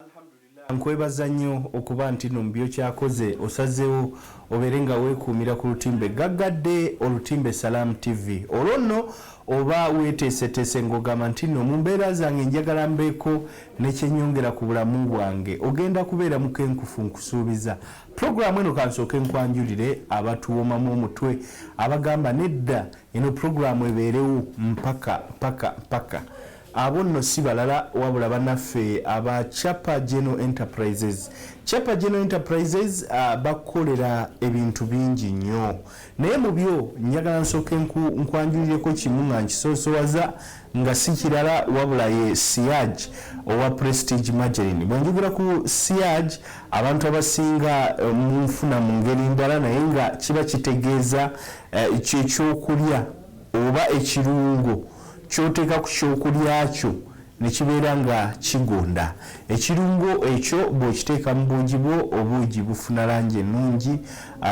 Alhamdulillah nkwebaza nnyo okuba ntino mubyokyakoze osazewo obere nga wekuumira ku lutimbe gaggadde olutimbe Salaam TV olwo nno oba weteeseteese ngogamba ntino mumbeera zange njagala mbeeko nekyenyongera ku bulamu bwange ogenda kubeera mukenkufu nkusuubiza program eno kansooke nkwanjulire abatuwomamu omutwe abagamba nedda eno program ebeerewo mpaka mpaka mpaka Abo nno si balala wabula banaffe aba Chapa General Enterprises. Chapa General Enterprises bakukolera ebintu bingi nnyo naye mu byo njagala nsooke nkwanjulireko kimu nga nkisoosowaza nga si kirala wabula ye Siaj owa Prestige Margarine. Bwe njogera ku Siaj abantu abasinga eh, munfuna mu ngeri ndala naye nga kiba kitegeeza eh, kyekyokulya oba ekirungo ky'oteeka ku kyokulya kyo ne kibeera nga kigonda. Ekirungo ekyo bw'okiteeka mu buugi bwo, obuugi bufuna langi ennungi,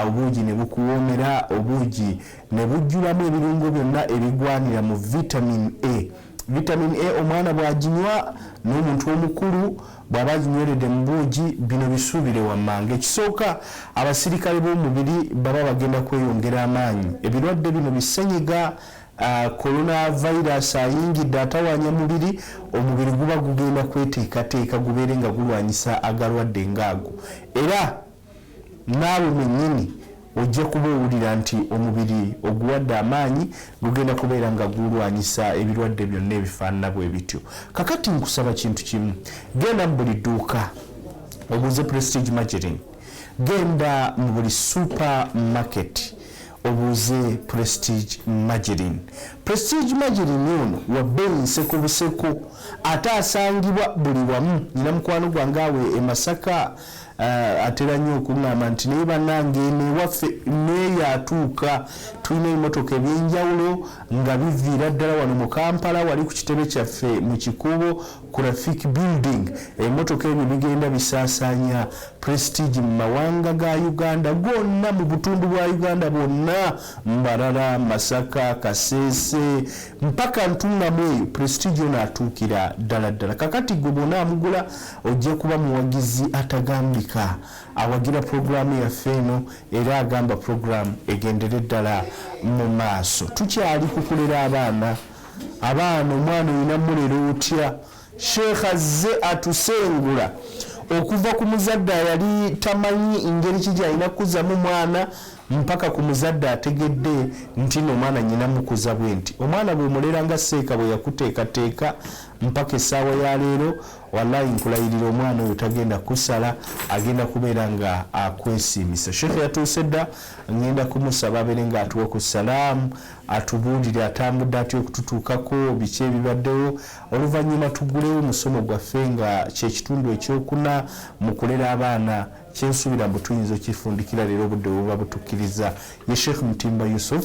obuugi ne bukuwoomera, obuugi ne bujjulamu ebirungo byonna ebigwanira mu Vitamin A. Vitamin A omwana bw'aginywa, n'omuntu omukulu Bwaba aginywerede mu buugi, bino bisuubire wammanga. Ekisooka, abasirikale b'omubiri baba bagenda kweyongera amaanyi. Ebirwadde bino bi ssenyiga Corona virus ayingidde atawaanya mubiri, omubiri guba gugenda kweteekateeka gubeere nga gulwanyisa agalwadde nga ago era. naawe mwennyini ojja kuba owulira nti omubiri oguwadde amaanyi gugenda kubeera nga gulwanyisa ebirwadde byonna ebifaanana bwe bityo kakati nkusaba kintu kimu genda mu buli dduuka obuuze prestige margerin genda mu buli super market obuuze prestige margerin prestige margerin ono wabbeeyi nseko buseko ate asangibwa buli wamu nyina mukwano gwange awe emasaka Uh, atera nnyo okuŋŋamba nti naye bannange eno ewaffe neeyo atuuka tulina ebimotoka ebyenjawulo nga biviira ddala wano mu kampala wali ku kitebe kyaffe mu kikuubo graphic building ebimotoka ebyo bigenda bisaasaanya prestige mu mawanga ga uganda gonna mu butundu bwa uganda bwonna mbarara masaka kaseese mpaka ntuŋŋamu eyo prestige ono atuukira ddala ddala kakati gwe bona amugula Ojja kuba muwagizi atagambika. Awagira pulogulaamu yaffe eno era agamba pulogulaamu egendere ddala mu maaso. Tukyali ku kulera abaana. Abaana, omwana olina mulera otya? Sheikh azze atusengula okuva ku muzadde ayali tamanyi ngeri ki gy'alina kukuzamu mwana mpaka ku muzadde ategedde nti no omwana nyina mukuza bwenti. Omwana bw'omulera nga Seeka bwe yakuteekateeka mpaka essaawa ya leero, Walayi nkulayirira omwana oyo tagenda kusala agenda kubeera nga akwesiimisa. Sheikh yatuuse dda ngenda kumusaba abeere nga atuwa ku salaamu atubuulire atambudde atya okututuukako biki ebibaddewo oluvannyuma tugulewo musomo gwaffe nga kyekitundu ekyokuna mu kulera abaana kyensuubira mbu tuyinza okifundikira leero obudde buba butukkiriza ye sheikh mutimba yusuf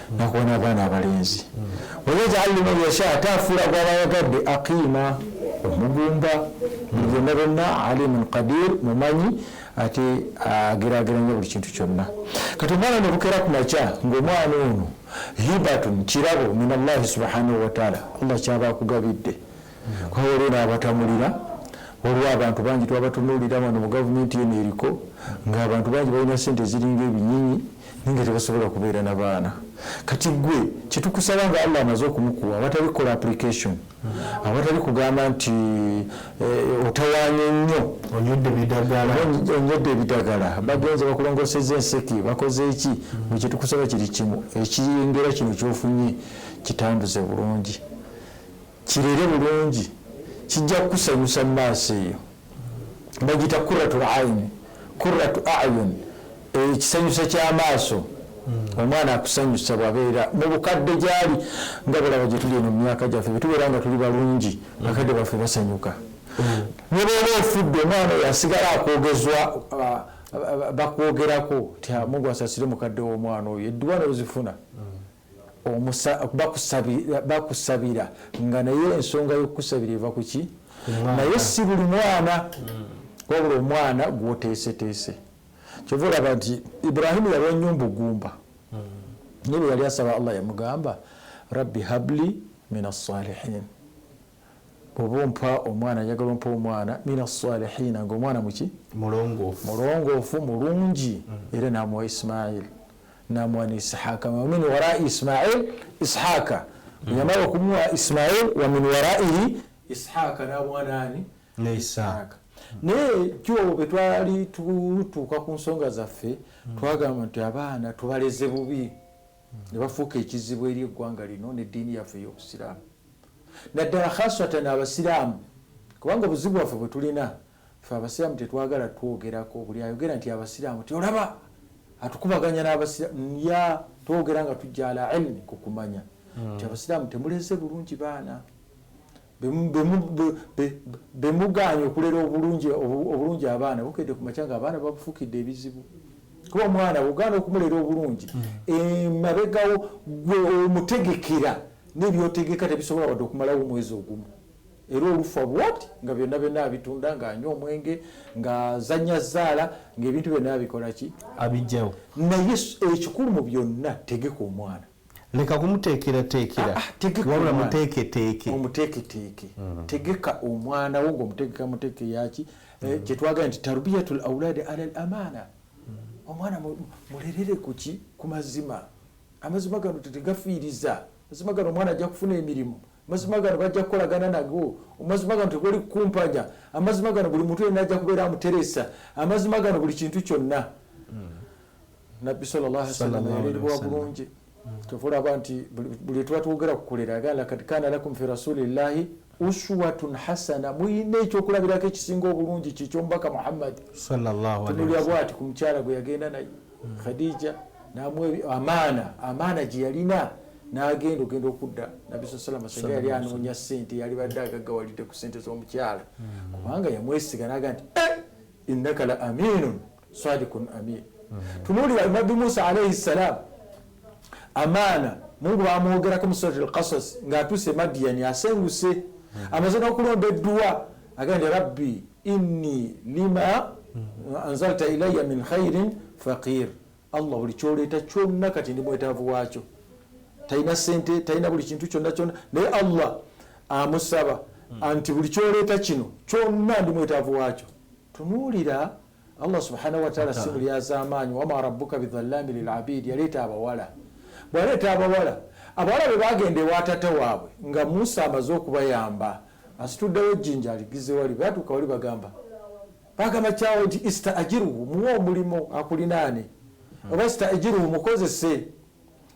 nakuwa n'abaana abalenzi wayajaalu man yasha ate afuula gw'abayagadde aqiima omugumba mugenda byonna alimun qadir mumanyi ate agerageranya buli kintu kyonna kati omwana nebukera ku makya ng'omwana ono hibatun kirabo min allahi subhanahu wataala allah kyaba akugabidde kuba waliwo n'abatamulira waliwo abantu bangi twabatunuulira wano mu gavumenti eno eriko ng'abantu bangi balina ssente eziringa ebinyinyi naye nga tebasobola kubeera na baana kati gwe kyetukusaba nga allah amaze okumukuwa awatali kukola application awatali kugamba nti eh, otawanye nnyo onyodde ebidagala bagenze bakulongoseza enseke bakoze eki bwe kyetukusaba kiri kimu ekiyengera kino kyofunye kitambuze bulungi Kirere bulungi kijja kukusanyusa mumaaso eyo bagita kuratul aini kuratu ayun ekisanyusa eh, kyamaaso hmm. omwana akusanyusa bwabeera mubukadde gyali nga bulaba gyetuli eno mumyaka gyaffe bwetubeera nga tuli balungi hmm. bakadde baffe basanyuka hmm. nebwoba ofudde omwana oyo asigala akwogezwa ah, bakwogerako nti ah, mungu asasire mukadde womwana oyo edduwa nozifuna bakusabira nga naye ensonga yokukusabira eva kuki naye si buli mwana hmm. wabula omwana gwoteeseteese kyova olaba nti ibrahimu yalwa nnyo mbugumba hmm. naye bwe yali asaba allah yamugamba rabbi habli min assalihin Oba ompa omwana njagala ompe omwana mina swalihiina nga omwana muki mulongoofu mulungi era namuwa Ismail namuwa ne Isihaka wamin warai Ismail Isihaka bweyamala okumuwa Ismail wamin waraihi Isihaka namuwa naani ne Isihaka naye jo bwe twali tutuuka ku nsonga zaffe twagamba nti abaana tubaleze bubi ne bafuuka ekizibu eri eggwanga lino n'eddiini yaffe ey'obusiraamu naddala khaswatan abasiramu kubanga obuzibu bwaffe bwetulina fe abasiramu tetwagala twogerako buli ayogera nti abasiramu ti olaba atukubaganya nabasiramu ya twogera nga tujja ala ilmi kukumanya hmm. nti abasiramu temuleze bulungi baana bemuganye okulera obulungi abaana bukedde kumakya nga abaana babufukidde ebizibu kuba omwana bugana okumulera obulungi hmm. emabegawo eh, gwe omutegekera nebyotegeka tebisobola wadde okumalawo omwezi ogumu era olufa bwoti nga byonna byonna abitunda ngaanywa omwenge ngazanya zaala ngaebintu byonna abikolaki abijjawo naye ekikulu mu byonna tegeka omwana leka kumuteekerateekera ah, ah, wabula muteeketeeke omuteeketeeke mm. tegeka omwana wo ngaomuteekeka muteeke yaki eh, mm. kyetwagala nti tarbiyatu lauladi ala l amaana mm. omwana mulerere kuki ku mazima Amazima gano tetegafiiriza. Amazima gano omwana ajja kufuna emirimu. Amazima gano bajja kukolagana nago. Amazima gano tegoli kukumpanya. Amazima gano buli muntu yenna ajja kubeera amuteresa. Amazima gano buli kintu kyonna. Hmm. Nabbi sallallahu alaihi wasallam yaleerwa bulungi. Kyova olaba nti buli tuba twogera ku kulera agamba lakad kana lakum fi rasulillahi uswatun hasana muyina ekyokulabirako ekisinga obulungi kyekyomubaka muhammadi tunulya bwati ku mukyala gwe yagenda naye hmm. khadija namwe amaana amaana gyeyalina nagenda ogenda okudda nabbi sa salama senga yali anoonya sente yalibadde agaggawalidde ku sente z'omukyala hmm. kubanga yamwesiga naga nti eh, innaka la aminun sadikun amin tunulira nabbi musa alaihi ssalam amaana mungu bamwogerako musurat lkasas ngaatuse madiyani asenguse amaze nokulonda edduwa agandi rabbi inni lima anzalta ilaya min khairin faqir allah buli kyoleeta kyonna kati ndi mwetaavu wakyo talina sente talina buli kintu kyonna kyonna naye allah amusaba anti buli kyoleeta kino kyonna ndi mwetaavu wakyo Tunuulira, Allah subhanahu wa ta'ala si mulyazaamaanyi, wama rabbuka bidhallaami lil abiid, yaleeta abawala. Bwaleeta abawala, abawala bwe baagenda ewa taata waabwe nga Musa amaze okubayamba, asituddewo ejjinja aligizze wali, bwe batuuka wali bagamba, baagamba kyawe nti ista'jiruhu, muwe omulimu akulinaane, oba ista'jiruhu, mukozese,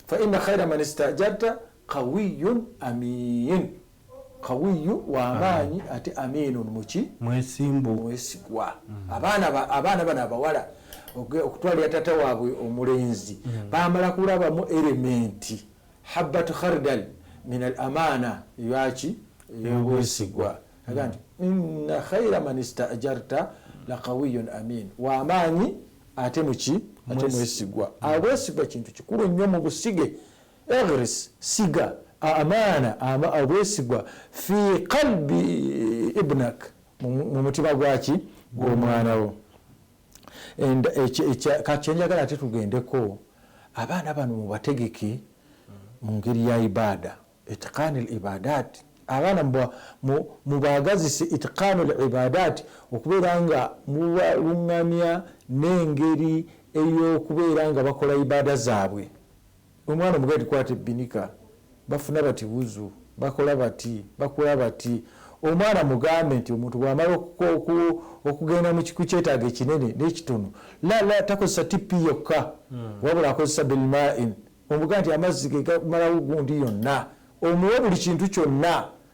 fa inna khaira man ista'jarta qawiyyun amiin. Kawiyyu, wa maanyi, ate Amiinun, muki? Mwesimbu. Mwesigwa. Abaana, abaana bano abawala okutwalira taata waabwe omulenzi mm. baamala kulabamu erementi habbat khardal min al amaana eyaki eyobwesigwa aga nti inna khaira man istajarta lakawiyun amin wamaanyi ate muki ate mwesigwa abwesigwa kintu kikulu nnyo mu busige Ighris, siga, Amaana, ama, obwesigwa, Fi qalbi ibnak, mu mutima gwa ki? Gw'omwana wo. And kati kyenjagala ate tugendeko, abaana bano mubategeke mu ngeri ya ibaada, itqaani al ibaadaat, abaana mubaagazise itqaanu al ibaadaat, okubeera nga mubalungamya n'engeri ey'okubeera nga bakola ibaada zaabwe. Omwana omugaye tukwata ebbinika bafuna bati wuzu, bakola bati, bakula bati. Omwana mugambe nti omuntu bw'amala okugenda ku kyetaago ekinene n'ekitono, la la takozesa tippi yokka wabula akozesa bilmaain, omugambe nti amazzi ge gamalawo gundi yonna, omuwe buli kintu kyonna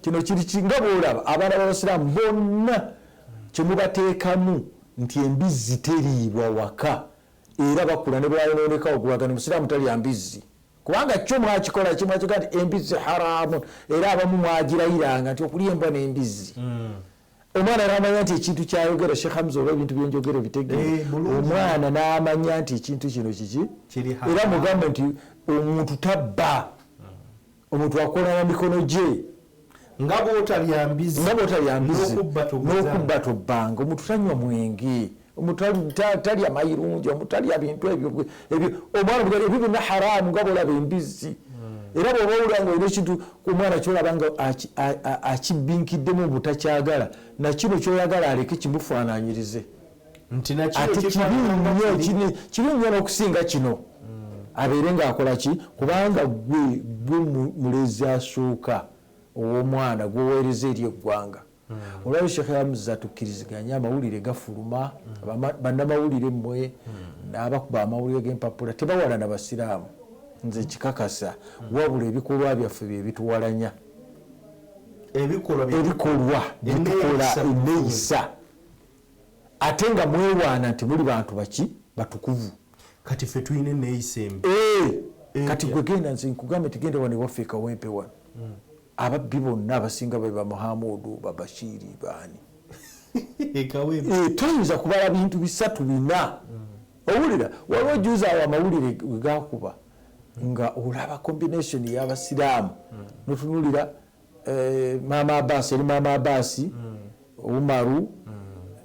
kino kiri ki nga bwolaba abaana babasiraamu bonna kyemubateekamu nti embizzi teriibwa waka era bakula nebwayonoonekawo gubagana omusiraamu talya mbizzi kubanga kyo mwakikola kimwakiga nti embizzi haramu era abamu mwagirayiranga nti okulya embwa n'embizzi mm. omwana namanya nti ekintu kyayogera shekh hamza oba ebintu byenjogera obitegere eh, omwana namanya nti ekintu kino kiki era mugambe nti omuntu tabba omuntu akola na mikono gye nga bwotalya mbizi n'okubba tobbanga omuntu tanywa mwenge talya mayirungi omutalya bintu ebyo omwana ebyo byonna haramu nga bolaba embizzi hmm. era bwoba owulira nga olina ekintu omwana kyolaba nga akibinkiddemu obutakyagala nakino kyoyagala aleke kimufaananyirize ate kibi nnyo kibi nnyo n'okusinga kino hmm. abeere ng'akola ki kubanga gwe gwe mulezi asooka ow'omwana gwoweereza eri eggwanga hmm. olwali sheekh yamuza tukkiriziganya amawulire gafuluma hmm. bannamawulire mmwe n'abakuba amawulire g'empapula tebawalana basiraamu nze kikakasa wabula ebikolwa byaffe bye bituwalanya ebikolwa byetukola eneyisa Ate nga mwewaana nti muli bantu baki batukuvu. Kati ffe tulina eneeyisa embi. Eeh kati gwe genda nze nkugambye nti genda wano ewaffe e Kawempe wano. Mm. Ababbi bonna abasinga be ba Muhamuudu, ba Bashiiri, baani? E Kawempe. Eeh toyinza kubala bintu bisatu bina. Mm. Owulira waliwo juuzi awo amawulire we gaakuba nga olaba combination y'Abasiraamu mm. notunuulira Eh, maama abasi eri maama abasi mm. umaru mm.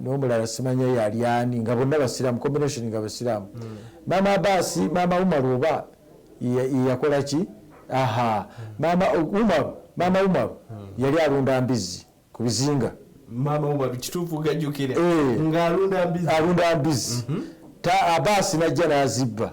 nomulala simanya yali ani nga bonna basiramu combination nga basiramu mm. maama abasi maama umaru oba yakola ki aha maama umaru maama umaru yali alunda mbizi ku bizinga eh. alunda mbizi mhm. abasi najja nazibba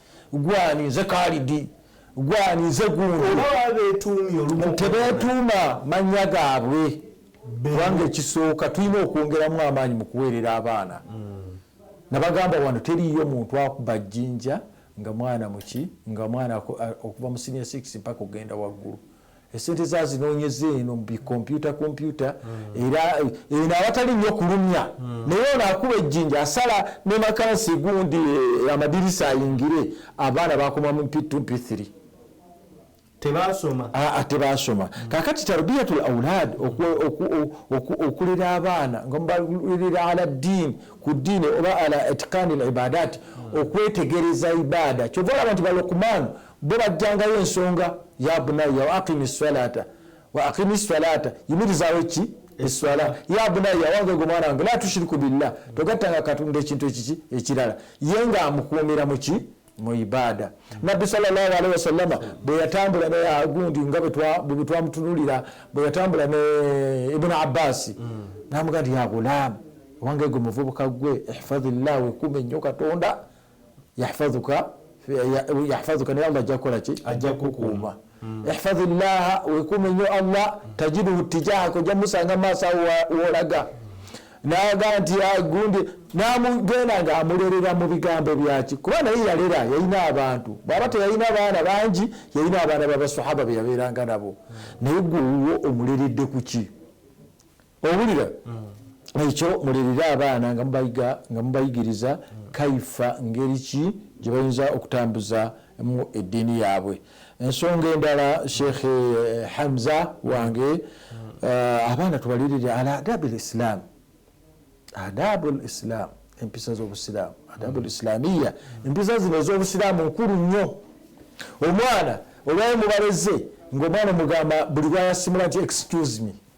gwani nze kalidi gwani nze guntebetuuma manya gaabwe kubanga ekisooka tulina okwongeramu amaanyi mu kuweerera abaana hmm. nabagamba wano teriiyo muntu akuba jjinja nga mwana muki nga mwana okuva mu sinia 6 mpaka okugenda waggulu esente za zinonyeza eno mubikomputa kompyuta hmm. era eh, eno awatali nyo kulumya hmm. naye ono akuba ejjinja asala ne makansi gundi eh, amadirisa ayingire abaana bakoma mu mpitu mpithiri tebasoma ah, ah, tebasoma hmm. kakati tarbiyatu laulad okulera abaana nga mubalera ala ddiini ku ddiini oba ala itikani libadati okwetegereza ibada kyova olaba nti balokumaanu Bo bajjangayo ensonga ya bunayya wa aqimi ssalata wa aqimi ssalata yimirizaawo ekki esswala ya bunayya wange gwe mwana wange la tushiriku billah togattanga katonda ekintu ekiki ekirala ye nga amukuumira muki mu ibaada nabbi salllahalihi wasallama bwe yatambula ne agundi nga bwetwamutunulira bwe yatambula ne ibuni abbasi mm. namuga nti ya gulaamu owange gwe muvubuka gwe ihfadhi llah wekuume nnyo katonda yahfazuka yahfazuka naye allah ajja kukola ki ajja kukuuma mm. ihfazi llaha wekuume nnyo allah tajiduhu tijahaka ojja musanga maaso awo wolaga naga nti agundi namugenda nga amulerera mu bigambo byaki kuba naye yalera yalina abantu bwaba teyalina baana bangi yalina abaana babasahaba beyabeeranga nabo mm. naye gwe wuwo omuleredde kuki owulira ekyo mulerere abaana nga mubayiga nga mubayigiriza kaifa ngeri ki gye bayinza okutambuza mu eddiini yaabwe ensonga endala sheikh eh, hamza wange eh, abaana tubalerere al adabu lislam adabu lislam empisa z'obusiraamu adabu lislamiya empisa zino ez'obusiraamu nkulu nnyo omwana olwayo mubaleze ngaomwana omugamba buli lwayasimula nti excuse me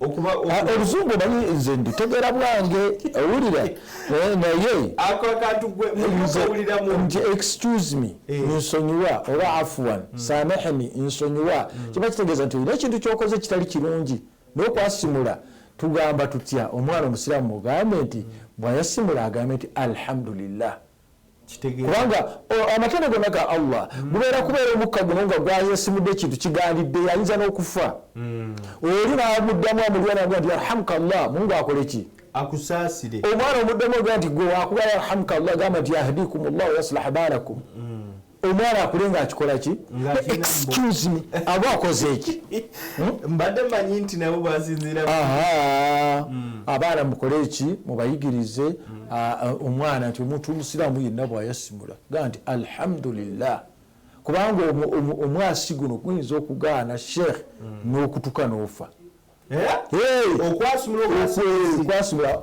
Ah, oluzungu omanyi nze ndutegeera bwange owulira eh, naye nti excuse me eh. nsonyiwa oba afuan hmm. samehni nsonyiwa hmm. kiba kitegeeza nti olina ekintu kyokoze kitali kirungi nokwasimula tugamba tutya omwana omusiraamu mugambe nti hmm. bwayasimula agambe nti alhamdulillah kubanga amatendo gonna ga allah gubeera mm. kubeera omukka guno nga gwayesimudde ekintu kigandidde yayinza n'okufa mm. oli namuddamu amulyanag nti yarhamuka llah mungu akoleki akusaasire omwana omuddamu ga nti gwe wakuba yarhamuka llah gamba nti yahdikum llah wayaslaha baalakum mm. omwana akule nga akikola ki excuse me aba akoze eki hmm? mbadde manyi nti nabo basinziira hmm. abaana mukole eki mubayigirize hmm. omwana nti omuntu omusiraamu yenna bwayasimula ga nti alhamdulillah kubanga omwasi guno guyinza okugaana sheikh n'okutuka n'ofa eh? okwasumula okwasumula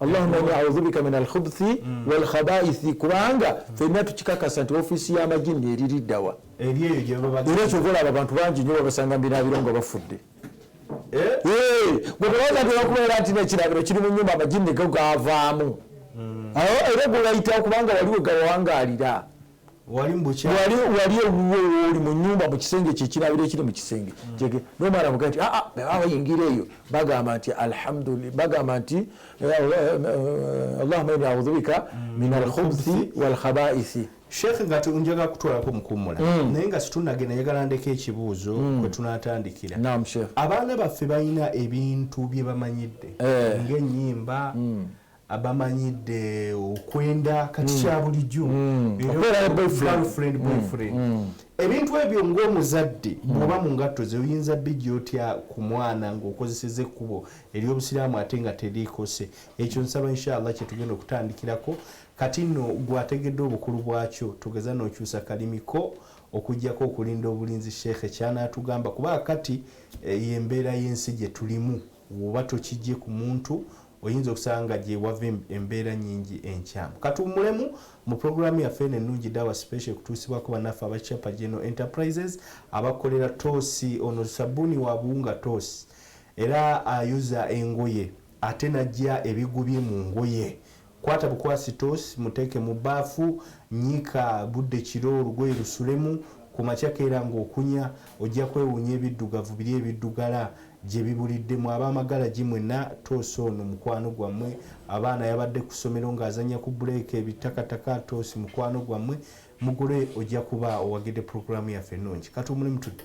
allahuma ini audhubika min alkhubuthi mm. walkhabaithi kubanga fenna tukikakasa nti ofiisi y'amajinni eririddawa era kyova olaba abantu bangi nyo babasanga mbinabiro nga bafudde eh? eh, gwebaza nti bakubeera nti nekirabiro kiri mu nyumba amajinni go gavaamu mm. era gwebayitawo kubanga waliwo gawangalira wali ewuwe wooli mu nyumba mu kisenge kyekirabiro ekiri mu kisenge mm. nomala muga nti aa ah, ah, abayingira eyo bagamba nti alhamdulila bagamba nti eh, eh, eh, allahuma ini audhubika mm. min alkhubthi walkhabaisi sheekh nga njaga kutwalako mukummula mm. naye nga situnagenda njagala ndeka ekibuuzo kwe tunatandikira abaana baffe balina ebintu bye bamanyidde ngaenyimba abamanyidde okwenda kati mm. kya bulijjo mm. boyfriend mm. ebintu ebyo ng'omuzadde bwoba mu ngatto ze oyinza bijja otya ku mwana ng'okozeseza ekkubo ery'obusiraamu ate nga teriikose ekyo nsaba inshallah kyetugenda okutandikirako kati nno gwategedde obukulu bwakyo tugeza n'okyusa kalimiko okujjako okulinda obulinzi sheekhe kyanaatugamba kuba kati eh, yembeera y'ensi gye tulimu Bw'oba tokiggye ku muntu, oyinza okusanga nga gye wava embeera nnyingi enkyamu. Ka tuwummulemu. Mu pulogulaamu yaffe eno ennungi, Dawa Special, ekutuusibwako bannaffe aba Chapa General Enterprises abakolera Toosi. Ono ssabbuuni wa buwunga Toosi era ayuza engoye ate n'aggya ebigubye mu ngoye Kwata bukwasi toosi muteeke mu bbaafu, nnyika budde kiro olugoye lusulemu, ku makya keera ng'okunya, ojja kwewuunya ebiddugavu biri ebiddugala gye bibulidde. Mwe ab'amagalagi mwenna, toosi ono mukwano gwammwe. Abaana yabadde ku ssomero ng'azannya ku bbuleeka ebittakataka, toosi mukwano gwammwe. Mugule ojja kuba owagidde pulogulaamu yaffe ennungi. Katuwummulemu tudde.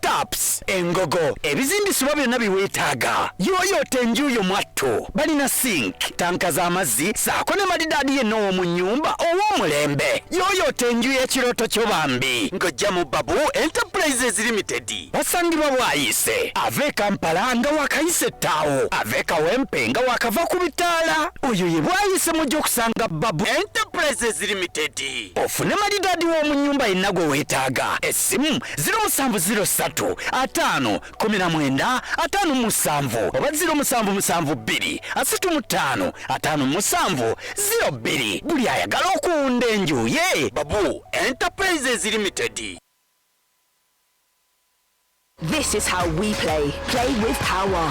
taps engogo ebizimbisibwa byonna biweetaaga yooyoota enju yo mwattu balina sink tanka z'amazzi saako ne malidaadi yenna ow'omu nnyumba ow'omulembe yooyoota enju y'ekirooto kyo bambi ng'ojja mu babu enterprises limited basangibwa bwayise ave kampala nga wakayise ettaawo ave kawempe nga wakava ku bitaala oyo ye bwayise mujja okusanga babu enterprises limited ofune malidaadi w'omu nnyumba yenna gwe weetaaga essimu ziro musanvu ziro ssatu ataano kumi na mwenda ataano mu musanvu oba ziro musanvu musanvu bbiri asatu mu ttaano ataano mu musanvu ziro bbiri buli ayagala okuwunda enju ye babu enterprises limited This is how we play. Play with power.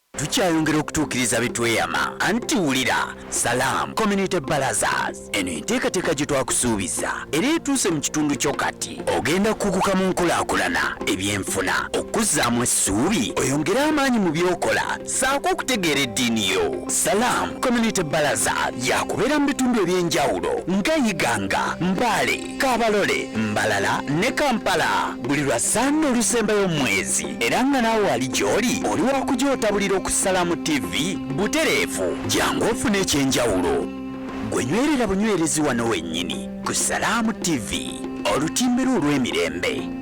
tukyayongera okutuukiriza bitweyama anti wulira salaam community balazas eno enteekateeka gye twakusuubiza era etuuse mu kitundu kyo kati ogenda kukuguka mu nkulaakulana ebyenfuna okuzzaamu essuubi oyongere amaanyi mu byokola saako okutegeera eddiini yo salaam community balazas yakubeera mu bitundu eby'enjawulo nga iganga mbaale Kabalole, Mbalala ne Kampala buli lwa Sande olusembayo omwezi era nga naawe ali gy'oli oli wakugyotabulira okusala mu TV butereevu jangu ofune ekyenjawulo gwe nywerera bunywerezi wano wennyini ku Salaamu TV olutimbe lwo olw'emirembe.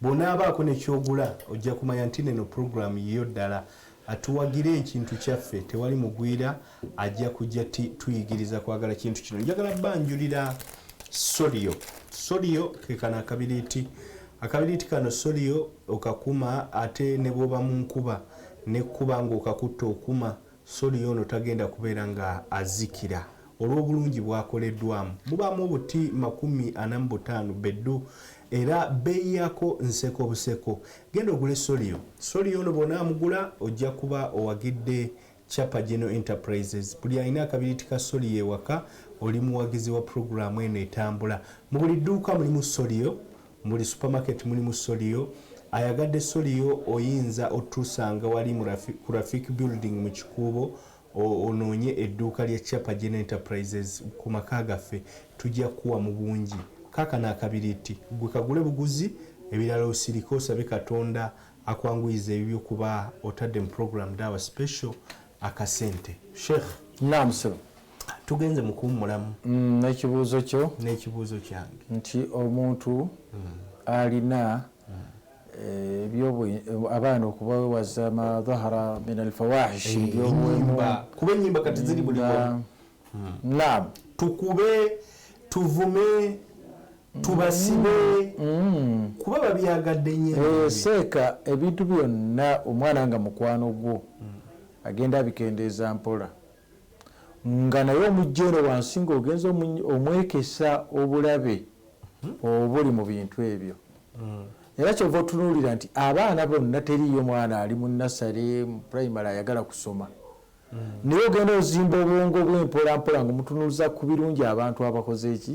Bwonaabaako ne kyogula ojja kumanya ntino eno program yiyo ddala. Tuwagire ekintu kyaffe tewali mugwira ajja kujja tuyigiriza kwagala kintu kino. Njagala banjulira Solio. Solio kekano akabiriiti. Akabiriiti kano Solio okakuma ate ne bwoba mu nkuba nekkuba ng'okakutta okuma. Sodiya ono tagenda kubeera nga azikira olw'obulungi bwakoleddwamu. Mubaamu obuti makumi ana mu butaano beddu era bbeeyi yaako nseko buseko. Genda ogule Sodiya. Sodiya ono bw'onaamugula ojja kuba owagidde Chapa General Enterprises. Buli alina akabiriiti ka Sodiya ewaka oli muwagizi wa pulogulaamu eno etambula. Mu buli dduuka mulimu Sodiya. Mbuli supermarket mulimu soliyo. Ayagadde soliyo oyinza otusanga wali mu ku Rafik building mu kikuubo onoonye edduuka lya Chapa General Enterprises ku maka gaffe tujja kukuwa mu bungi. Kaakano akabiriitti ggwe kagule buguzi ebirala osirike osabe Katonda akwanguyize ebibyo kuba otadde mu program Daawa Special akasente sheikh naam sebo tugenze mu kuwummulamu mm, n'ekibuuzo kyo n'ekibuuzo kyange nti omuntu mm. alina mm. eh, ebyobu abaana okubawewaza madhahara min alfawahishi ebyobuwemba kuba ennyimba kati ziri buli hmm. naam tukube tuvume tubasibe mm. kuba babyagadde nyo seeka eh, ebintu byonna omwana nga mukwano gwo mm. agenda abikendeeza mpola nga naye omujjeero wansi nga ogenza omwekesa obulabe hmm? obuli mu bintu ebyo hmm. era kyova otunuulira nti abaana bonna teriyo mwana ali mu nasale mu primary ayagala kusoma naye ogenda ozimba obwongo bwe mpola mpola nga omutunuliza ku birungi abantu abakoze eki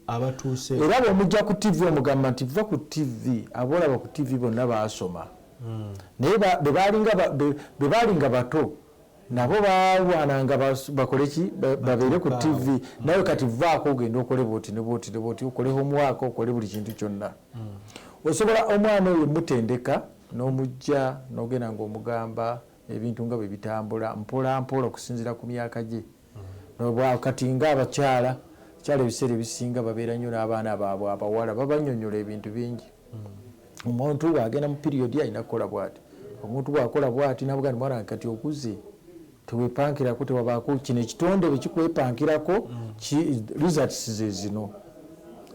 abatuuse era bwomujja ku tv omugamba nti va ku tv abolaba ku tv bonna baasoma hmm. naye bebaalinga bato nabo balwananga bakole ki babeere ku tv hmm. nawe kati vaako ogenda okole bwoti ne bwoti ne bwoti okole homuwaaka okole buli kintu kyonna hmm. osobola omwana oyo mutendeka n'omujja nogenda ngaomugamba ebintu nga bwe bitambula mpolampola okusinziira ku myaka gye nobwa kati nga abakyala kyala ebiseera ebisinga babeera nnyo n'abaana baabwe abawala babanyonyola ebintu bingi hmm. omuntu bw'agenda mu piriyodi alina kukola bwati omuntu bw'akola bwati nabuga ni mwana kati okuze tewepankirako tewabaako kino ekitonde bwe kikwepankirako hmm. results ze zino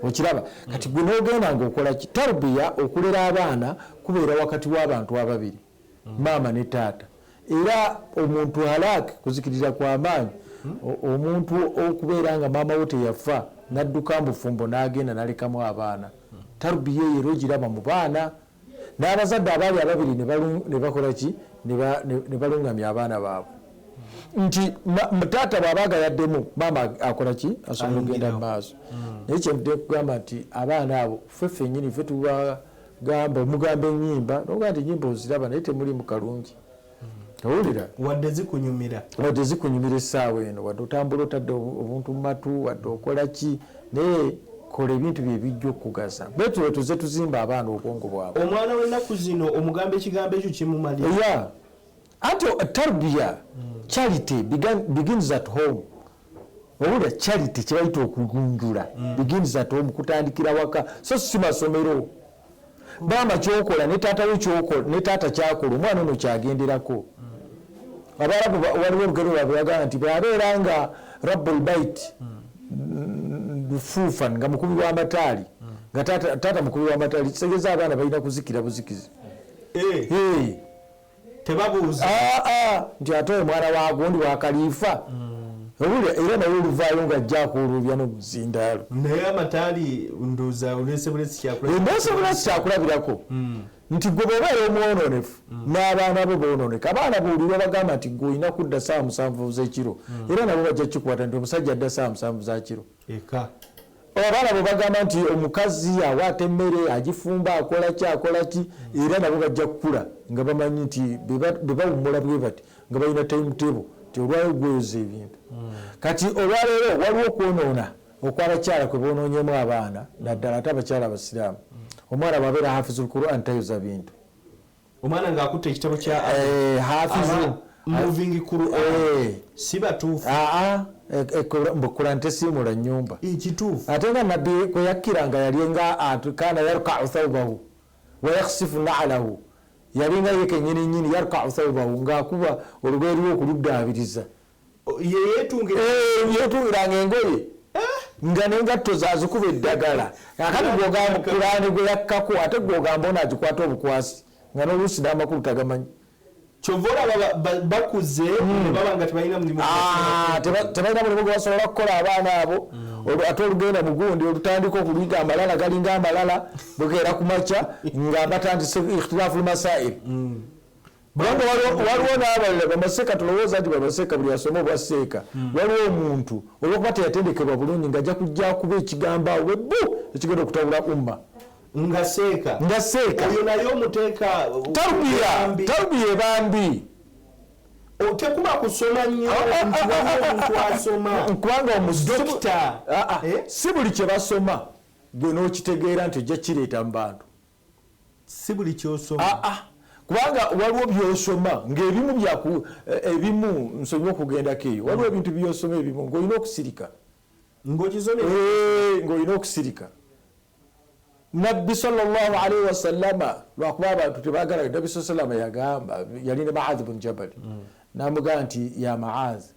okiraba hmm. kati gwe n'ogenda ng'okola ki tarbiya okulera abaana kubeera wakati w'abantu ababiri mm. maama ne taata era omuntu halak kuzikiriza kwa maanyi mm. omuntu okubeera nga maama wo teyafa nadduka mbufumbo n'agenda nalekamu abaana mm. tarubiya eyo era ogiraba mu baana n'abazadde abaali ababiri ne bakola ki ne balungamya abaana baabwe nti taata bwabaaga yaddemu maama akola ki asobola okugenda mu maaso naye kyenvude kugamba nti abaana abo ffe ffenyini ffe tuba gamba omugamba enyimba noga nti enyimba oziraba naye temulimu kalungi hmm. owulira wadde zikunyumira wadde zikunyumira essaawa eno wadde otambula otadde obuntu mumatu wadde okola ki naye kola ebintu bye bijja okugaza betule tuze tuzimba abaana obwongo bwabwe omwana wenaku zino omugamba ekigambo ekyo kimumalira anti tarbiya hmm. charity begins at home owulira charity kyebayita okugunjula hmm. begins at home kutandikira waka so si masomero maama kyokola ne taata we kyokola ne taata kyakola omwana ono kyagenderako hmm. abalabu waliwo olugero lwabwe bagamba nti bwabeera nga rabbul bait lufuufan nga mukubi w'amataali nga taata mukubi w'amataali kitegeza abaana balina kuzikira buzikizi eh. Eh. tebabuuza ah, ah, nti ate oyo mwana wa gundi wa kaliifa hmm. obulya era naye oluvaayo nga ajja akuuluubya n'obuzindaalo naye amataali ndoza olese bulesi kyakulabirako bulesi kyakulabirako hmm. nti gwe bwobeera omwonoonefu hmm. n'abaana bo boonooneka abaana buulira obagamba nti gwe olina kudda saawa musanvu zekiro era nabo bajja kikwata nti omusajja adda saawa musanvu zakiro mm. eka abaana bwe bagamba nti omukazi awaata emmere agifumba akola ki akola ki era nabo bajja kukula nga bamanyi nti bwe bawummula bwe bati nga balina time table nti olwaleero gweyoza ebintu hmm. kati olwaleero waliwo okwonoona okwabakyala kwe bonoonyemu abaana naddala ate abakyala abasiraamu hmm. omwana bwabeera hafizu lquran tayoza bintu omwana ng'akutte ekitabo kya eh, hafizu moving quran eh. si batuufu ah, ah. mbukula nte simula nyumba ekituufu ate nga nabbi kwe yakkira nga yali nga kana yarkau thaubahu wayakhsifu naalahu yali nga ye kenyini nyini yarkau thaubahu ng'akuba olugoye lwe okuluddaabiriza yeyetungiranga engoye eh? nga nengatto zazikuba eddagala akati gwogamba kulaani gwe yakkako ate gwogamba ono agikwata obukwasi nga noluusi n'amakulu tagamanyi kyova olaba bakuze hmm. baba nga tebalina mulimu ah, tebalina mulimu gwe basobola okukola abaana abo hmm. ate olugenda mugundi olutandika okuliga amalala galinga amalala bukeera ku makya nga batandise ikhtilafu lmasail hmm. kubanga waliwo n'abalala bamaseeka tulowooza nti bamaseeka buli asoma obwa seeka hmm. waliwo omuntu olwokuba teyatendekebwa bulungi nga ajja kujja kuba ekigambo awo bwebbu ekigenda okutabula umma nga seeka nga seeka oyo naye omuteeka tarbiya tarbiya ebambi tekuba kusoma nnyo ah, ah, nti ah, waliwo omuntu asoma kubanga omudokita eh? si buli kye basoma gwe n'okitegeera nti ojja kireeta mu bantu si buli kyosoma ah, ah. kubanga waliwo byosoma ngaebimu byaku eh, ebimu nsonyiwa okugendako eyo waliwo mm. ebintu byosoma ebimu ngaolina okusirika eh, ngaolina okusirika nabbi salllahalaihi wasallama lwakuba abantu tebagala nabbi saa salama yagamba yali ne maazi bun jabali mm. namugamba nti ya maazi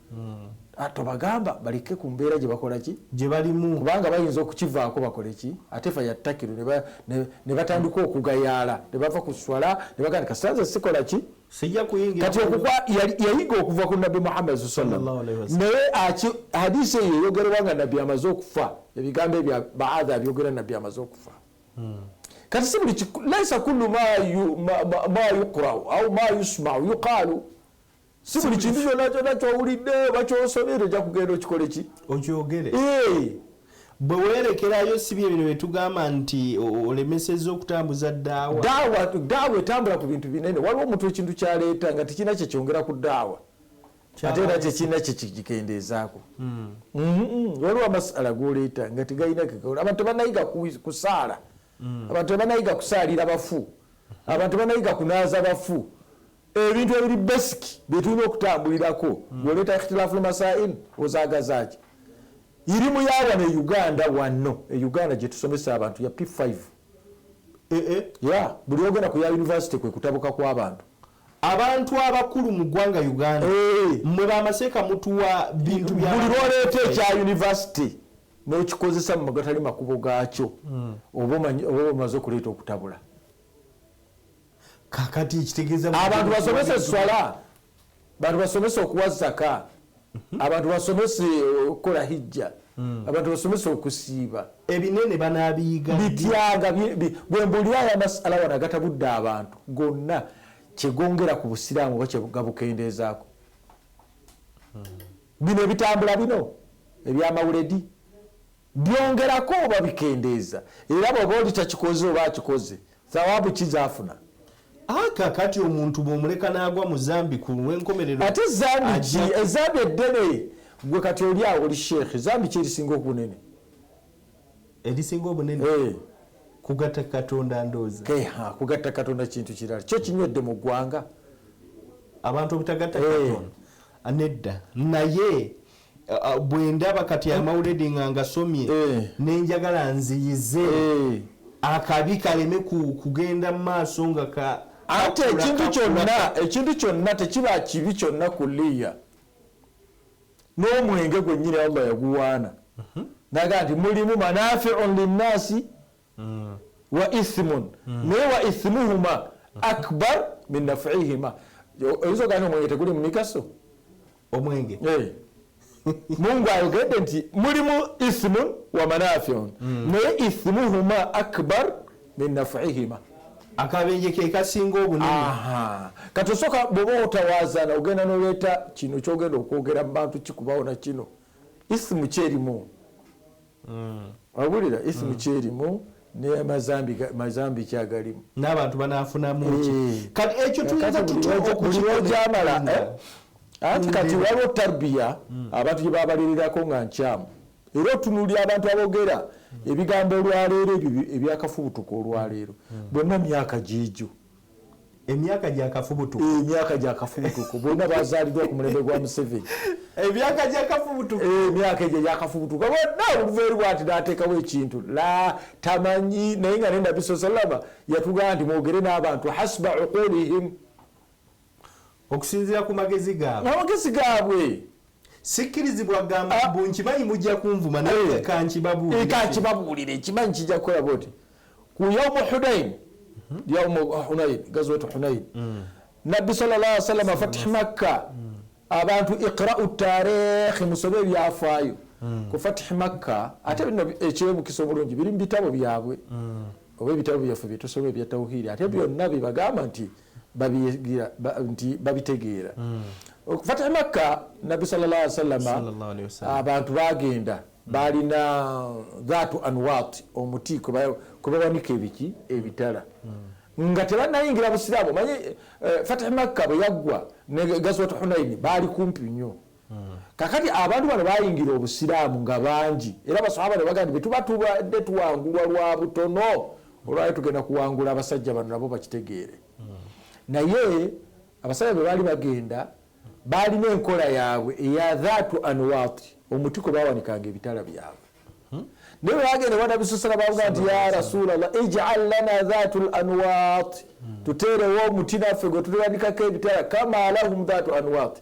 hmm. ah, tobagamba baleke ku mbeera gye bakola ki gye balimu kubanga bayinza okukivaako bakole ki ate fa yattakiru ne batandika okugayaala ne bava ku swala ne baganda kasitanze sikola ki sijja kuyingira kati okuba yayiga okuva ku nabbi muhammad sasalam naye hadisi eyo eyogerewa nga nabbi amaze okufa ebigambo ebya baadha abyogera nabbi amaze okufa hmm. kati si buli laisa kullu ma yuqrau au ma yusmau yuqaalu si buli kintu kyona kyona kyowulidde oba kyosobye toja kugenda okikole ki okyogere bwe weerekerayo si bye bino byetugamba nti olemeseza okutambuza daawa daawa daawa etambula ku bintu binene waliwo omuntu ekintu kyaleeta nga tekirina kyekyongera ku daawa ate era kyekirina kyekigikendeezaako hmm. mm-hmm. waliwo amasala goleeta nga tegalina kegaula abantu tebanayiga kusaala hmm. abantu tebanayiga kusaalira bafu abantu tebanayiga kunaaza bafu Ebintu ebiri basic byetulina okutambulirako mm. ng'oleeta ikhtilaful masail ozaagazaaki? Irimu ya wano e Uganda wano e Uganda gye tusomesa abantu ya P5 e, e, ya buli ogenda ku ya yunivasite kwe kutabuka kw'abantu abantu abakulu mu ggwanga Uganda eh. mwe bamaseeka mutuwa bintu buli lwoleeta ekya yunivasite n'okikozesa mu gatali makubo gaakyo hmm. oba omaze okuleeta okutabula kakati kitegeeza abantu basomese swala bantu basomese okuwa zaka mhm. abantu basomese okukola hijja hmm. abantu basomese okusiiba ebinene banabiyiga bityaga bwembuulira aya masala wano agatabudde abantu gonna kyegongera ku busiraamu oba kyegabukendeezaako hmm. bino ebitambula bino ebyamawuledi Byongerako oba bikendeeza, era bw'aba oli takikoze oba akikoze, thawaabu ki z'afuna? A, Kaakati omuntu bw'omuleka n'agwa mu zambi, ku lw'enkomerero Ate zambi ki? ajja ku- Ezambi eddene. Ggwe kati oli awo oli sheekhe, zambi ki erisinga obunene? erisinga obunene Eh, kugatta Katonda ndooza. ke, ha, kugatta Katonda kintu kirala. Kyo kinywedde mu ggwanga. Abantu obutagatta Eh. Katonda nedda, naye bwendaba kati amawuledi nga ngasomye eh. nenjagala nziyize eh. akabi kaleme kugenda mu maaso nga ka ate ekintu kyonna ekintu kyonna tekiba kibi kyonna ku liya n'omwenge gwennyini allah yaguwaana mhm. naga nti mulimu manafiun linnaasi wa ithimun naye wa ithimuhuma akbar min nafihima oyinza ogana omwenge teguli mumigaso omwenge eh. mungu ayogedde nti mulimu ithimun wa manafiun hmm. naye ithimuhuma akbar min nafihima akabenje kekasinga obunene kati osoka bwoba otawazana ogenda noleeta kino kyogenda okwogera mubantu kikubawo nakino isimu kyerimu mm. wabulira isimu mm. kyerimu mazambi kyagalimu n'abantu banafunamuki eh. kati ekyo tuyinza tutyokukimala eh? anti kati waliwo tarbiya mm. abantu gye babaleererako nga nkyamu era otunulira abantu abogera mm. ebigambo olwaleero ebyo ebyakafubutuka olwaleero mm. bonna myaka gyegyo emyaka gya kafubutuku eh, emyaka gya kafubutuku bonna bazaalidwa ku mulembe gwa museveni emyaka gya kafubutuku eh, emyaka egyo gya kafubutuku bonna oluva eri bwati nateekawo ekintu la tamanyi naye nga nenda bisosalama yatugamba nti mwogere n'abantu hasba uqulihim okusinzira ku magezi gaabwe amagezi gaabwe sikkirizibwa gamba ah. mbu nkimanyi mujja kunvuma naye eh. kankibabuulire eh, ekimanyi kijja kukola bwoti ku yaumu hunain mhm. yaumu hunain gazwatu hunain mm. nabbi salalla salama fatih makka mm. abantu iqrau tarikhi musobe ebyafaayo mm. ku fatih makka ate bino ekyebukisa obulungi biri mu bitabo byabwe oba ebitabo byaffe byetusoma ebya tauhiri ate byonna bibagamba nti nti babitegeera hmm. fatih makka nabbi salalla salama abantu bagenda hmm. balina dhatu anwat omuti kwebawanika ebiki ebitala hmm. nga tebanayingira busiraamu manyi eh, fatih makka bwe yaggwa ne gazwat hunaini baali kumpi nnyo Kakati abantu bano bayingira obusiraamu nga bangi era baswahaba ne bagamba nti bwe tuba tubadde tuwangulwa lwa butono olwali tugenda kuwangula abasajja bano nabo bakitegeere naye abasajja bwe baali bagenda baalina enkola yaabwe eya dhaatu anwaati omuti kwe bawanikanga ebitala byabwe hmm? naye bwe bagenda banabisusala bavuga nti ya rasuula llah ijal lana dhaatu l anwaati hmm. tuteerewo omuti naffe gwe tuliwanikako ebitala kama lahum dhaatu anwaati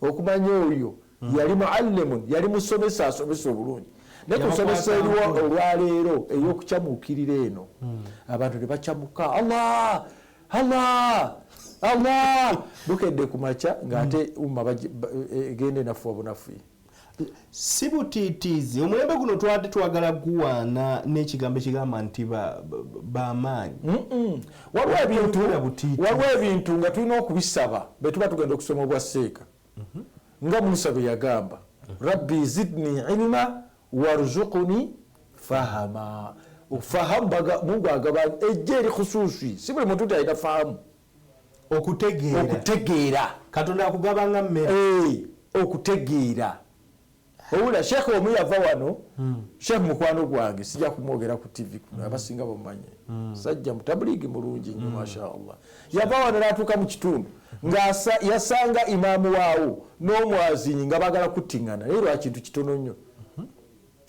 Okumanya oyo yali muallimun, yali musomesa asomesa obulungi. Naye ku nsomesa eriwo olwaleero ey'okucamuukirira eno, abantu ne bacamuka Allah Allah Allah bukedde ku makya ng'ate umma egenda enafuwa bunafuyi. si butiitiizi omulembe guno twali twagala guwaana n'ekigambo ekigamba nti bamaanyi waliwo ebintu waliwo ebintu nga tulina okubisaba be tuba tugenda okusoma obwa seeka mhm. nga musa bwe yagamba rabbi zidni ilima warzukuni fahama fahamu mungu agaba ejja eri khususi si buli muntu nti alina fahamu okutegeera okutegeera katonda akugaba nga mmere hey, eh, okutegeera owula sheekh omu yava wano hmm. sheekh mukwano gwange sijja kumwogera ku tv kuno hmm. abasinga bamumanye hmm. sajja mutabuliigi mulungi nyo masha allah yava wano natuuka mu kitundu nga yasanga imaamu waawo n'omwazinyi nga bagala kuttiŋana naye lwakintu kitono nnyo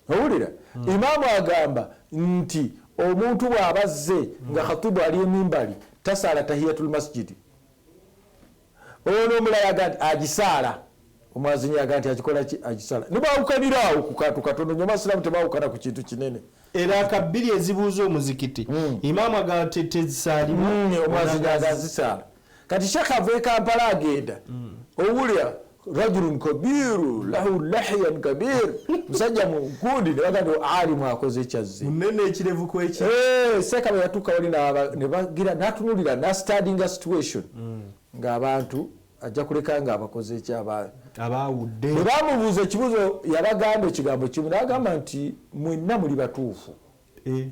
Owulira? Hmm. Imaamu agamba nti omuntu bw'aba azze nga hmm. khatibu ali emimbali tasaala tahiyatul masjidi. Ono omulala aga nti agisaala. Omwazinyi aga nti akikola ki? Agisaala. Ne baawukanira awo ku kantu katono nnyo. Abasiraamu tebaawukana ku kintu kinene. Era ka bbiri ezibuuza omuzikiti. Hmm. Imaamu agamba tezisaalibwa. Omwazinyi aga zisaala. kati shekh ava ekampala agenda mm. owulira rajulun kabiru lahu lahiyan kabir musajja munkundi nebaga ti alimu akoze kyazze munene ekirevu kwekyo eh, sekaba yatuuka wali nebagira natunulira nastadinga situation mm. ng'abantu ajja kuleka nga abakoze eki abawudde bwe bamubuuza ekibuzo yabagamba ekigambo kimu nagamba nti mwenna muli batuufu Eh.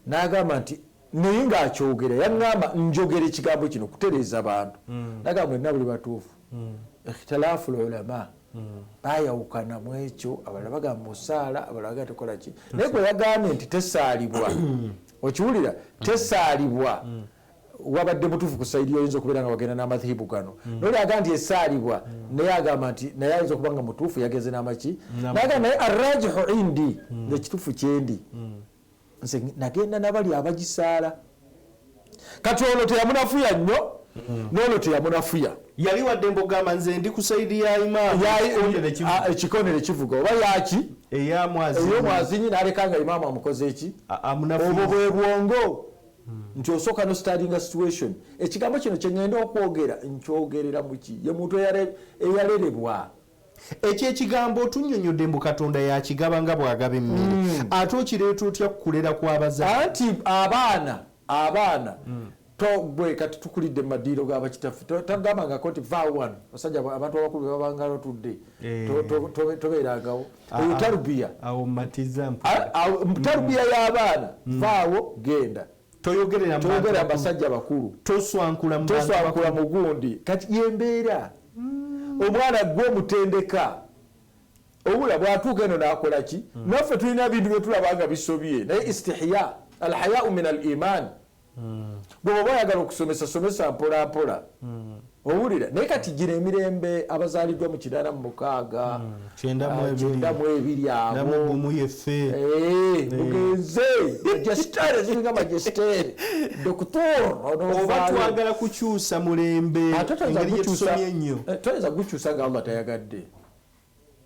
N'agamba nti naye ng'akyogera yaŋŋamba njogera ekigambo kino kutereeza bantu hmm. naga mwenna buli batuufu hmm. ikhtilaafu lulama hmm. bayawukana mu ekyo abalala bagamba musaala abalala bagamba tekola ki naye gwe yagambye nti tesaalibwa okiwulira tesaalibwa wabadde mutuufu ku saidi yoyinza okubeera nga wagenda n'amathibu gano mm. noli aga nti esaalibwa mm. naye agamba nti naye ayinza okuba nga mutuufu yagenze n'amaki naga naye arrajihu indi mm. ngekituufu kyendi nze nagenda nabali abagisaala kati ono teyamunafuya nnyo noono teyamunafuya yali wadde mbogamba nze ndi ku saidi ya imaamu ekikondere kivuga oba yaki eyomwazinyi naleka nga imaamu amukoze eki obwo bwe bwongo nti osooka no staringa situation ekigambo kino kyengenda okwogera nkyogerera muki ye muntu eyarerebwa ekyo ekigambo otunyonyodde mbu katonda yakigaba nga bwagaba emmere hmm. ate okireeta otya kukulera kwabaza anti abaana abaana hmm. togwe kati tukulidde mu madiiro ga bakitaffe tagambangako nti va wano basajja abantu abakulu bebabanga batudde eh. tobeerangawo eyo tarubiya awo matiza mpo tarubiya y'abaana mm. vaawo genda toyogerera toyogera basajja bakulu toswankula toswankula mugundi kati yembeera mm. omwana gwe omutendeka obula bwatuuka eno nakola ki mm. naffe tulina bintu byetulaba nga bisobye naye istihya alhayau min al iman gwe bwoba oyagala okusomesa somesa mpola mpola hmm. owulira naye kati gino emirembe abazaliddwa mu kinana mu mukaaga hmm. kyenda mu ah, ebiri abomu yefe eh, eh. mugenze majestere ziringa majestere doktor oba twagala kukyusa mulembe ah, engeri gyetusomye ennyo eh, toyinza kugukyusa nga allah tayagadde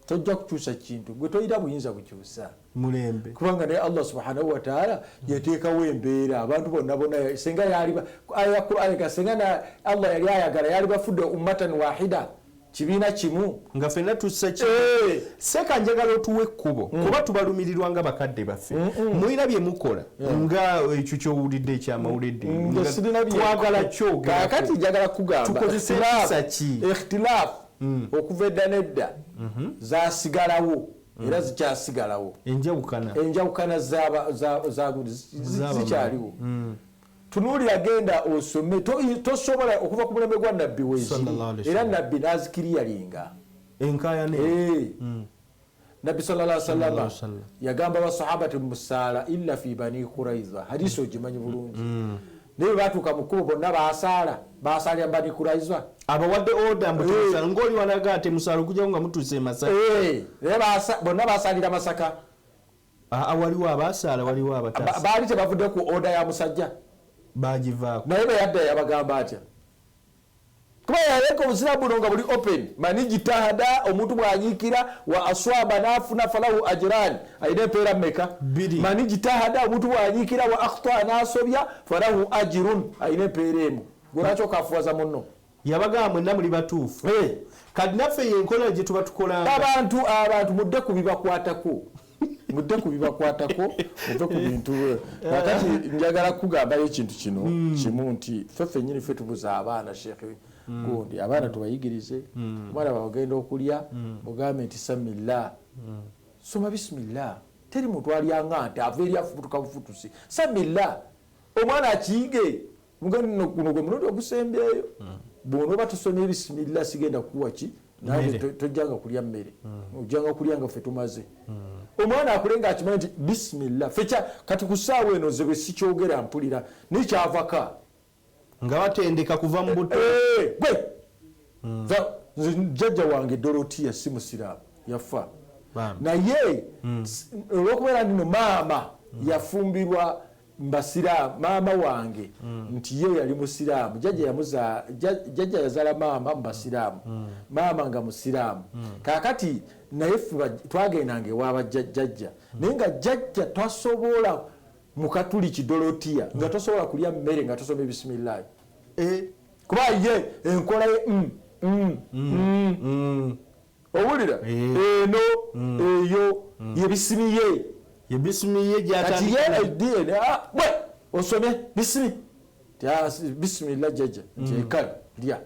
tojja kukyusa kintu gwe tolina buyinza bukyusa mulembe kubanga naye allah subhanahu wataala yateekawo embeera abantu bonna bonna senga yaliayakuaga senga na allah yali ayagala yali bafudde ummatan wahida kibiina kimu nga fenna tussa ki eh. seeka njagala otuwa ekkubo mm. kuba tubalumirirwa nga bakadde baffe mulina bye mukola nga ekyo kyowulidde ekyamawulidde mm, twagala kyogaakati njagala kugamba tukozesa empisa ki ikhtilaafu mm. okuva edda nedda mhm. zasigalawo mm. era zikyasigalawo enjawukana zikyaliwo tunuulira genda osome tosobola okuva ku mulembe gwa nabbi weziri era nabbi nazikiriyalinga enkayana eh. mm. nabbi salala salama yagamba basahaba ti musaala illa fi bani kuraiza hadisi ogimanyi bulungi mm. naye batuuka mukubo bonna basaala basalira bani kuraiza abawadde oda eh. ngoli walaga ate musaala okujjako nga mutuuse emasaka eh. naye bonna basalira masaka ah, ah, waliwo abasaala waliwo abatasa baali tebavudde ku oda ya musajja bagivaako naye beyadda yabagamba atya kuba yaleka obuzira buno nga buli open mani jitahada omuntu bwanyiikira wa aswaba nafuna falahu ajirani alina empeera meka mani jitahada omuntu bwanyiikira wa akhtaa nasobya falahu ajirun alina empeera emu gwelwaki okafuwaza munno yabagamba mwenna muli batuufu eh. kati naffe yenkola gyetuba tukola abantu abantu mudde ku bibakwatako mudde ku bibakwatako muve ku bintu kakati njagala kukugambayo ekintu kino hmm. kimu nti ffe fenyini ffe tubuza abaana sheekh hmm. gundi abaana tubayigirize hmm. omwana bagenda okulya mugambe nti samillah soma bisimillah teri muntu alyanga nti ava eri afubutuka bufutusi samillah omwana akiyige mugano guno gwe mulundi ogusembyeyo hmm. bwonoba tusomye bisimilla sigenda kukuwa ki naye tojjanga kulya mmere hmm. ojjanga kulya nga ffe tumaze hmm. omwana akule nga akimanyi nti bisimilla fekya kati ku ssaawa eno nze bwe sikyogera mpulira naye kyavaka nga batendeka kuva mu buto eh, eh, gwe nze jjajja wange dorotiya si musiraamu yafa naye olwokubeera ndino maama yafumbirwa basiraamu maama wange mm. nti ye yali musiraamu jajja yamuza jajja yazala maama mu basiraamu mm. maama nga musiraamu mm. kakati naye fe twagendanga ewaaba jajja mm. naye nga jajja tasobola mukatuli kidolotiya mm. nga tosobola kulya mmere nga tosoma ebisimillahi e, kuba ye enkola ye mm, mm, mm, mm. mm. owulira eno eyo yebisimi ye yebisimi ye kati ye dna ah, bwe osome bisimi ah, bisimila jaja nti mm. ekala lya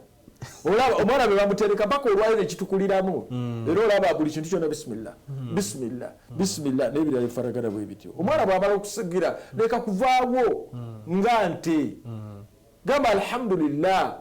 olaba omwana bwe bamutereka mpaka olwayo nekitukuliramu mm. era olaba buli kintu kyona bisimila mm. bisimila bisimila nebirala efaragana bwe bityo omwana bwamala okusigira leka kuvaawo nga nte gamba alhamdulillah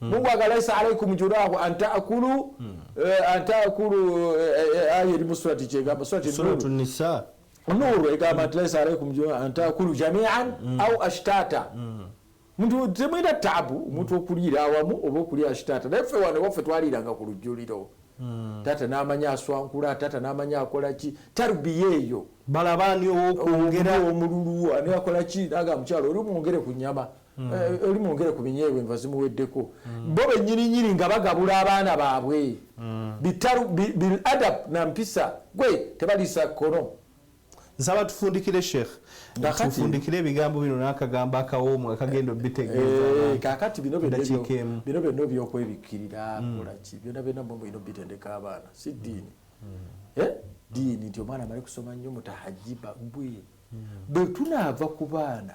hmm. mungu aga laisa alaikum jurahu antakulu hmm. eh, antakulu eh, eh, ayo erimu surati kyegamba surati nisa nuru egamba nti laisa alaikum jurahu antakulu jamian hmm. au ashtata muntu temwina tabu omuntu okuliira awamu oba okulya ashitata naye ffe wano waffe twaliiranga ku lujjuliro hmm. taata namanya aswankula taata namanya akolaki tarubiya eyo balabani owokwongera omululu ani akolaki naga mukyalo oli mwongere ku nyama mm. eh, oli mwongere ku binyeebwa enva zimuweddeko mm. bo benyininyini nga bagabula abaana baabwe mm. bitaru bil adab na mpisa gwe tebaliisa kkono nsaba tufundikire sheikh tufundikire ebigambo bino n'akagambo akawoomu akagenda obitegeezakakati eh, bino byonna obyokwebikkirira kolaki byona byonna mwe mulina obitendeka abaana si ddiini eh? ddiini nti omwana amale kusoma nnyo mutahajiba gwe bwe tunaava ku baana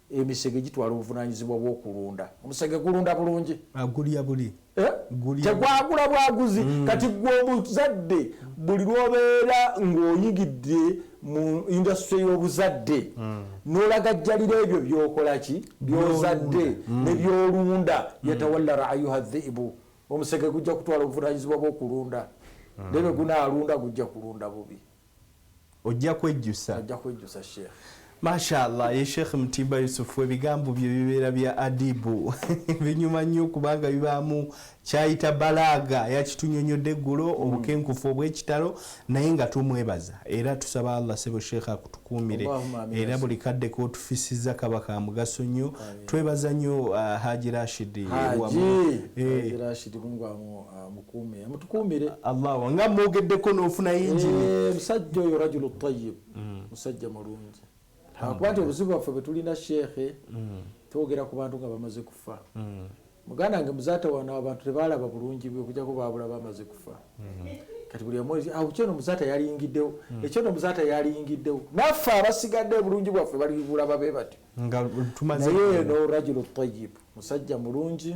Emisege gitwala obuvunaanyizibwa bw'okulunda. Omusege gulunda bulungi. Agulya buli. Eh? Tegwagula bwaguzi. Mm. Kati gwe omuzadde buli lw'obeera ng'oyigidde mu indasitule y'obuzadde mm. n'olagajjalira ebyo by'okola ki by'ozadde mm. ne by'olunda yatawalla raayuha dhiibu omusege gujja kutwala obuvunaanyizibwa bw'okulunda. Debe gunaalunda gujja kulunda bubi. ojja kwejjusa ojja kwejjusa sheikh Mashallah ye Sheikh Mutimba Yusufu ebigambo bye bibeera bya adibu binyuma nnyo kubanga bibaamu kyayita balaaga yakitunyonyodde eggulo mm. obukenkufu obw'ekitalo naye nga tumwebaza era tusaba Allah sebo Sheikh akutukuumire era buli kadde k'otufisizza kaba ka mugaso nnyo twebaza nnyo uh, Haji Rashid wamu eh. mukuume mutukuumire allah nga mwogeddeko n'ofuna yingini eh, musajja oyo rajulu tayib mm. musajja mulungi akuba nti obuzibu bwaffe bwe tulina sheekhe mm. twogera ku bantu nga bamaze kufa mm. muganda wange muzatawana abantu tebaalaba bulungi bwe okujako baabula bamaze kufa kati buli omwezi awo kyono muzata yalingiddewo hmm. ekyono muzata yalingiddewo naffe abasigadde obulungi bwaffe balibulaba be batyo naye no rajulu tayib musajja mulungi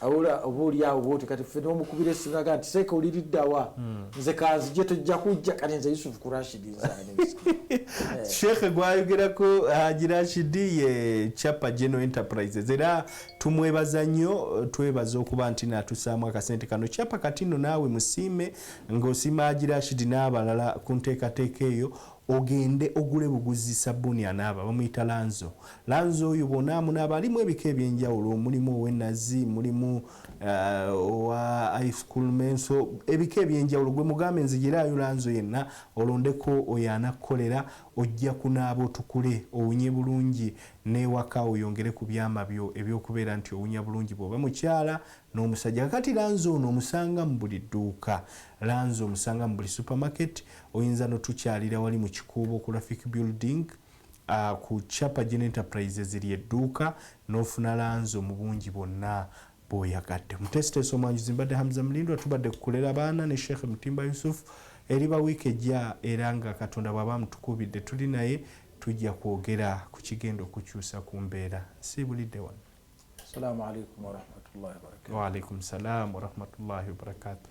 Awula oba oli awo bwoti kati ffe nomukubira esimu naga nti seeka oli liddawa hmm. nze kanzije tojja kujja kati nze Yusuf ku Rashid nzani eh. Sheikh gwayogerako Haji Rashid ye Chapa General Enterprises era tumwebaza nnyo twebaza okuba nti natusaamu akasente kano Chapa kati nno naawe musiime ng'osiima Haji Rashid n'abalala ku nteekateeka eyo Ogende ogule buguzi sabbuuni anaaba bamuyita Lanzo. Lanzo oyo bw'onaa amunaaba alimu ebika eby'enjawulo mulimu ow'ennazi, mulimu owa ice cool menso ebika eby'enjawulo gwe mugambe nzigiraayo Lanzo yenna olondeko oyo anakukolera ojja kunaaba otukule owunye bulungi n'ewaka oyongere ku byama byo eby'okubeera nti owunya bulungi bw'oba mukyala n'omusajja. Kaakati Lanzo ono omusanga mu buli dduuka. Lanzo omusanga mu buli supermarket, Oyinza no tukyalira wali mu Kikuubo ku Rafik Building uh, ku Chapa Gen Enterprises lye dduuka n'ofuna lanzo mu bungi bwonna bw'oyagadde. Muteesiteesi omwanjuzi mbadde Hamza Mulindwa tubadde kukulera baana ne Sheikh Mutimba Yusuf eriba wiiki ejja era nga Katonda bw'aba amutukubidde tuli naye tujja kwogera ku kigenda okukyusa ku mbeera nsiibulidde wano salamu alaikum warahmatullahi wabarakatu waalaikum salaamu warahmatullahi wabarakatu